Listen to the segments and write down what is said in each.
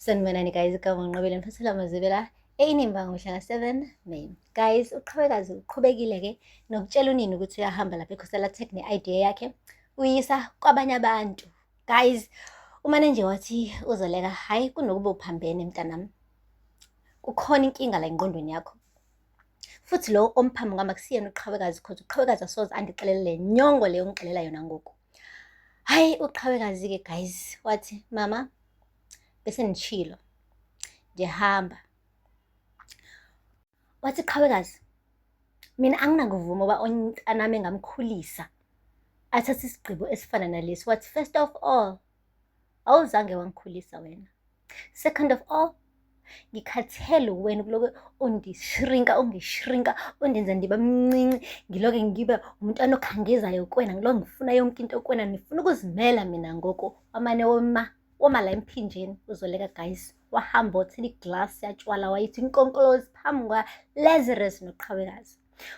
Sanibonani guys, igama nginqobile ngifasela amazibela eyinimba ngomhla ka-7 May. Guys, uqhubekazi uqhubekile-ke nokutshela unini ukuthi uyahamba lapha ekhosela tech ne-idea yakhe uyisa kwabanye abantu. Guys, umane nje wathi uzoleka hhayi kunokuba uphambene mntanami. Kukhona inkinga la engqondweni yakho. Futhi lo omphambi ngama kusiyena uqhawekazi cause uqhawekazi asoze andixelele le nyongo leyo ngixelela yona ngoku. Hhayi uqhawekazi-ke guys wathi mama bese nishilo ngiyahamba wathi qhawekazi mina anginakuvuma uba ontanami engamkhulisa athathe isigqibo esifana nalesi wathi first of all awuzange wangikhulisa wena Second of all, ngikhathele wena kuloke undishrinka ungishrinka undenza ndiba mncinci ngiloke ngibe umntwana okhangezayo kwena ngilo ngifuna yonke into kwena ndifuna ukuzimela mina ngoku wamane woma woma la emphinjeni uzoleka guys wahamba othela iglasi yatshwala wayithi inkonkolozi phambi kwa lazarus noqhawekazi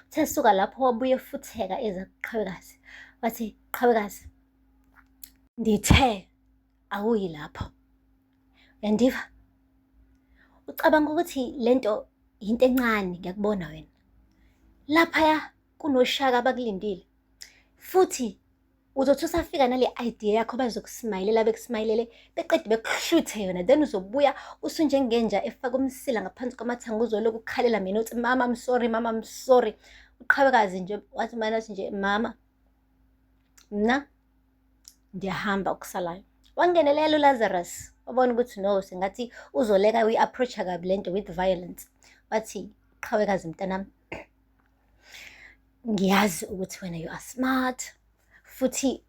uthe suka lapho wabuye futheka eza kuqhawekazi wathi qhawekazi ndithe awuyi lapho yandiva ucabanga ukuthi lento yinto encane ngiyakubona wena laphaya kunoshaka abakulindile futhi uzothi usafika nale idea yakho bazokusimayilela bekusimayilele beqede bekuhluthe yona then uzobuya usunjengenja efaka umsila ngaphansi kwamathanga uzoloku ukhalela mina uthi mama I'm sorry mama I'm sorry uqhawekazi nje wathi mana nje mama mna ndiyahamba okusalayo wangenelela ulazarus wabona ukuthi no sengathi uzoleka uyi-approacha kabi le nto with violence wathi qhawekazi mntanami ngiyazi ukuthi wena you are smart futhi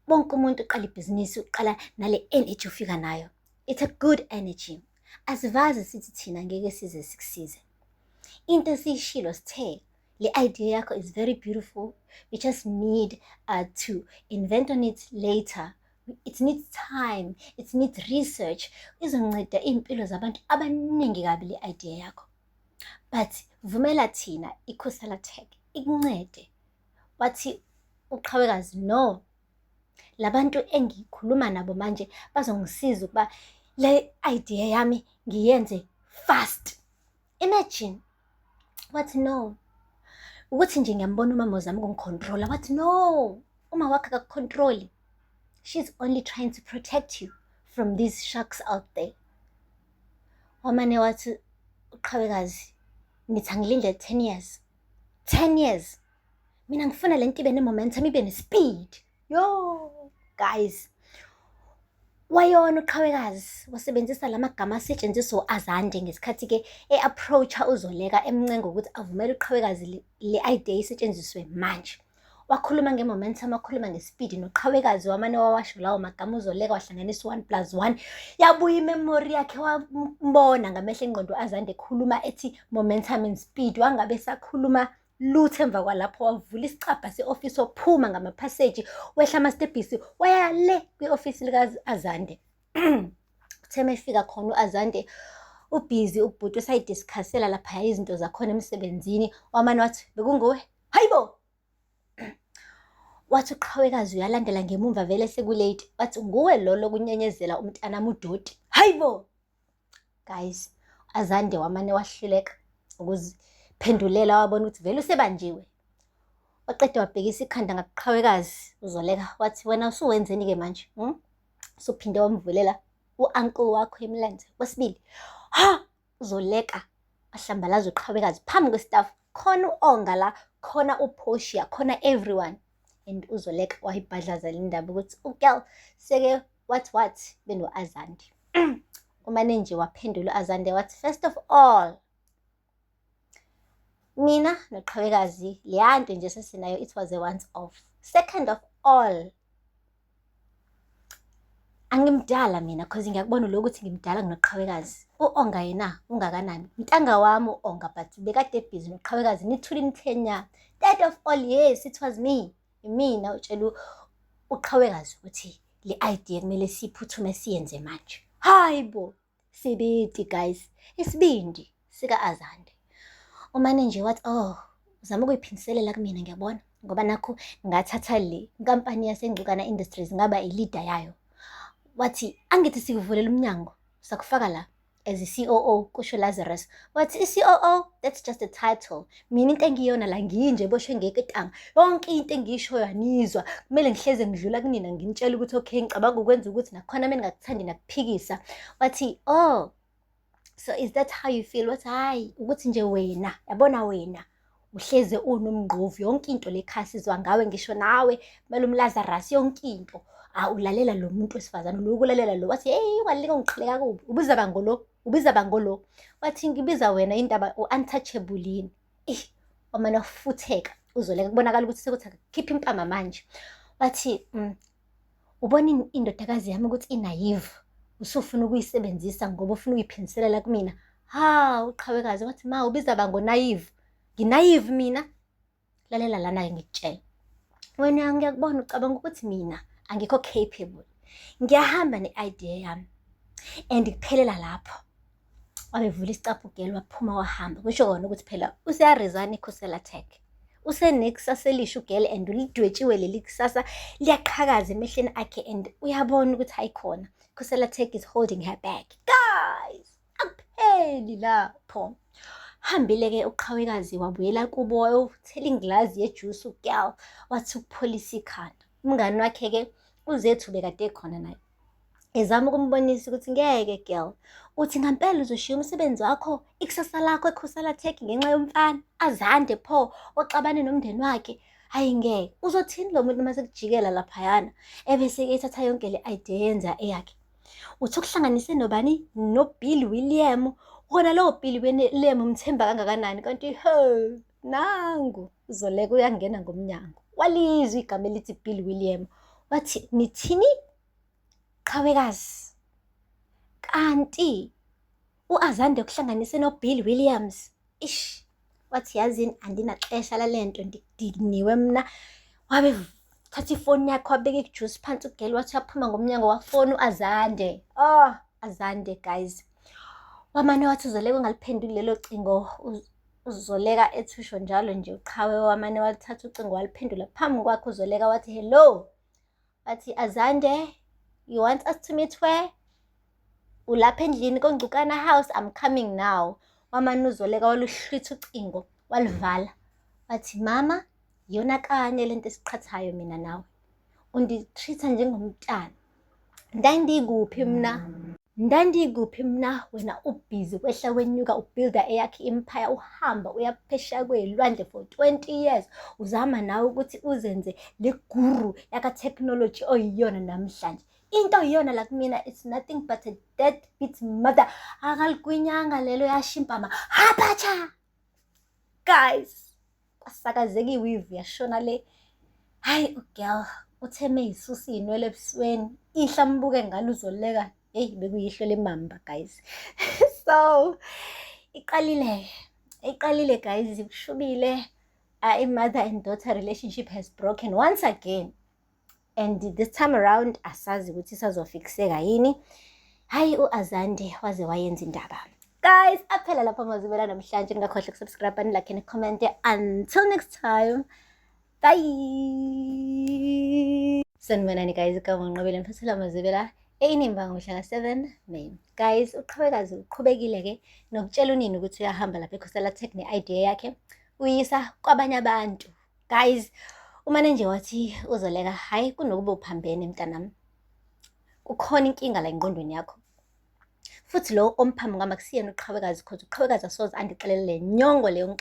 bonke umuntu uqala ibhizinisi uqala nale energy ufika nayo it's a good energy asivazi sithi thina ngeke size sikusize into esiyishilo sithe le idea yakho is very beautiful we just need uh, to invent on it later it needs time it needs research izonceda iy'mpilo zabantu abaningi kabi le idea yakho but vumela thina ikhosala tech ikuncede wathi uqhawekazi no labantu engikhuluma nabo manje bazongisiza ukuba le idea yami ngiyenze fast imagine wathi no ukuthi nje ngiyambona umama uzama ukungicontrola wathi no uma wakhe akakucontroli she's only trying to protect you from these sharks out there wamane wathi uqhawekazi ngithi angilinde 10 years 10 years mina ngifuna le nto ibe ne-momentum ibe ne-speed yo guys wayona uqhawekazi wasebenzisa la magama asetshenziswa u-azande ngesikhathi-ke e-approacha uzoleka emncenga ukuthi avumele uqhawekazi le idea isetshenziswe manje wakhuluma nge-momentum wakhuluma ngesipidi noqhawekazi wamane wawasho lawo magama uzoleka wahlanganisa u-one plus one yabuya imemori yakhe wambona ngamehlo engqondo azande ekhuluma ethi momentum and speed wangabe sakhuluma lutho emva kwalapho wavula isicabha se-ofisi waphuma ngamaphaseji wehla amastebhisi waya le kwi-ofisi lika-azande uthe uma efika khona u-azande ubhizi ubhuti usayidiskhasela laphaya izinto zakhona emsebenzini wamane wathi bekunguwe hayi bo wathi uqhawekazi uyalandela ngemumva vele sekulate wathi nguwe lolo kunyenyezela umntanami udoti hayi bo guys azande wamane wahluleka ukuziphendulela wabona ukuthi vele usebanjiwe waqeda wabhekisa ikhanda ngakuqhawekazi uzoleka wathi wena usuwenzeni-ke manje hmm? usuphinde wamvulela u-ankle wakho emlenze kwesibili ha uzoleka ahlambalaza uqhawekazi phambi kwesitafu khona u-onga la khona uphoshiya khona everyone and uzoleka wayibhadlazela indaba ukuthi ugal seke what what beno-azande umane nje waphendula u-azande wathi first of all mina noqhawekazi leya nto nje sesinayo it was a once off second of all Angimdala mina cause ngiyakubona lokho ukuthi ngimdala nginoqhawekazi. U-Onga yena ungakanani? Mtanga wami u-Onga but bekade ebhizi noqhawekazi nithule nithe nya. That of all yes it was me. Imina utshela uqhawekazi ukuthi le idea kumele siphuthume siyenze manje. Hayi bo! Sibidi guys, isibindi sika Azande. Umane nje wathi oh, uzama ukuyiphindiselela kumina ngiyabona ngoba nakho ngathatha le nkampani yaseNgcukana Industries ngaba i-leader yayo. Wathi angithi sikuvulele umnyango sakufaka la as i-COO kusho Lazarus. Wathi i-COO that's just a title. mina into engiyona la nginje boshwe ngeketanga yonke into engiyishoyo anizwa kumele ngihleze ngidlula kunina nginitshela ukuthi okay ngicabanga ukwenza ukuthi nakhona mina ngakuthandi nakuphikisa wathi oh so is that how you feel wathi hayi ukuthi nje wena yabona wena uhleze unomngqovu yonke into lekhasi izwa ngawe ngisho nawe kumele umlazarus yonke into awulalela lo muntu wesifazane lo ukulalela lo wathi hey ungalinga ungiqhileka kubi ubuzaba ngolo ubiza bangolo wathi ngibiza wena indaba u-untouchable yini ih wamane wafutheka uzoleka kubonakala ukuthi sekuthi khipha impama manje wathi mm, ubona in- indodakazi yami ukuthi inayivu usufuna ukuyisebenzisa ngoba ufuna ukuyiphindiselela kumina ha uqhawekazi wathi ma ubiza bangonayivu nginayivu mina lalela lana-ke ngikutshela wena ngiyakubona ucabanga ukuthi mina angikho capable ngiyahamba ne-idea yami and kuphelela lapho wabevula isicaphu geli waphuma wahamba kusho kona ukuthi phela useyarizana ikhusela tech usenekusasa elisha ugele and ulidwetshiwe leli kusasa liyaqhakaza emehleni akhe and uyabona ukuthi hayikhona khusela tech is holding her back guys akupheli lapho hambile-ke uqhawekazi wabuyela kubo wayowuthela ingilazi yejuice ugal wathi ukupholisa ikhanda umngani wakhe-ke uzethu bekade khona naye ezama ukumbonisa ukuthi ngeke girl uthi ngampela uzoshiya umsebenzi wakho ikusasa lakho ekhosala tech ngenxa yomfana azande pho oxabane nomndeni wakhe hayi ngeke uzothini lo muntu uma sekujikela laphayana ebese ethatha yonke le idea yenza eyakhe Uthi ukuhlanganise nobani? NoBill William. Wona lowo Bill William umthemba kangakanani kanti ho nangu uzoleka uyangena ngomnyango. Walizwa igama elithi Bill William. Wathi nithini? Qhawekazi. Kanti U-Azande kuhlanganise noBill Williams. Ish, wathi yazini andinaxesha lale nto ndidiniwe mna. Wabe thatha ifoni yakhe wabeka ijuice phansi ugeli wathi uyaphuma ngomnyango wafona u-Azande. Oh, Azande guys. Wamane wathi uzoleka ungaliphenduli lelo cingo uzoleka ethusho njalo nje uqhawe wamane walithatha ucingo waliphendula phambi kwakhe uzoleka wathi hello Bathi Azande, you want us to meet where? Ulapha endlini koNgcukana house, I'm coming now. Wamanuzoleka waluhlwitha ucingo, walivala. Wathi mama, yona kanye lento esiqhathayo mina nawe. Unditreat-a njengomntana. Ndandikuphi mina? Ndandikuphi mna wena ubhizi kwehla wenyuka ubuilda eyakhe impaya uhamba uyaphesha kweyilwandle for 20 years uzama nawe ukuthi uzenze le guru yakatechnology oyiyona namhlanje into yiyona la kumina it's nothing but a dead bit mother akaligwinyanga lelo yashimpama hapacha guys kwasakazeka iwivu yashona le hayi ugirl utheme yisusa iy'nwele ebusweni ihla mbuke ngalo uzoleka heyi bekuyihlo lemamba guys so iqalile iqalile guys kushubile uh, a mother and daughter relationship has broken once again and this time around asazi ukuthi isazofikiseka yini hayi u-azande waze wayenza indaba guys aphela lapho amazibela namhlanje ningakhohle kusubscribe anilakhe necommente until next time bye sanibonani guys igama nqobele mfasela mazibela eyinimba ngomhla ka-seven may guys uqhubekazi uqhubekile-ke nokutshela unini ukuthi uyahamba lapha ekhosela tech ne-idea yakhe uyisa kwabanye abantu guys umane nje wathi uzoleka hhayi kunokuba uphambene mntanami kukhona inkinga la engqondweni yakho futhi lowo omphambi ngama kusiyena uqhawekazi cause uqhawekazi asoze andixelele nyongo leyo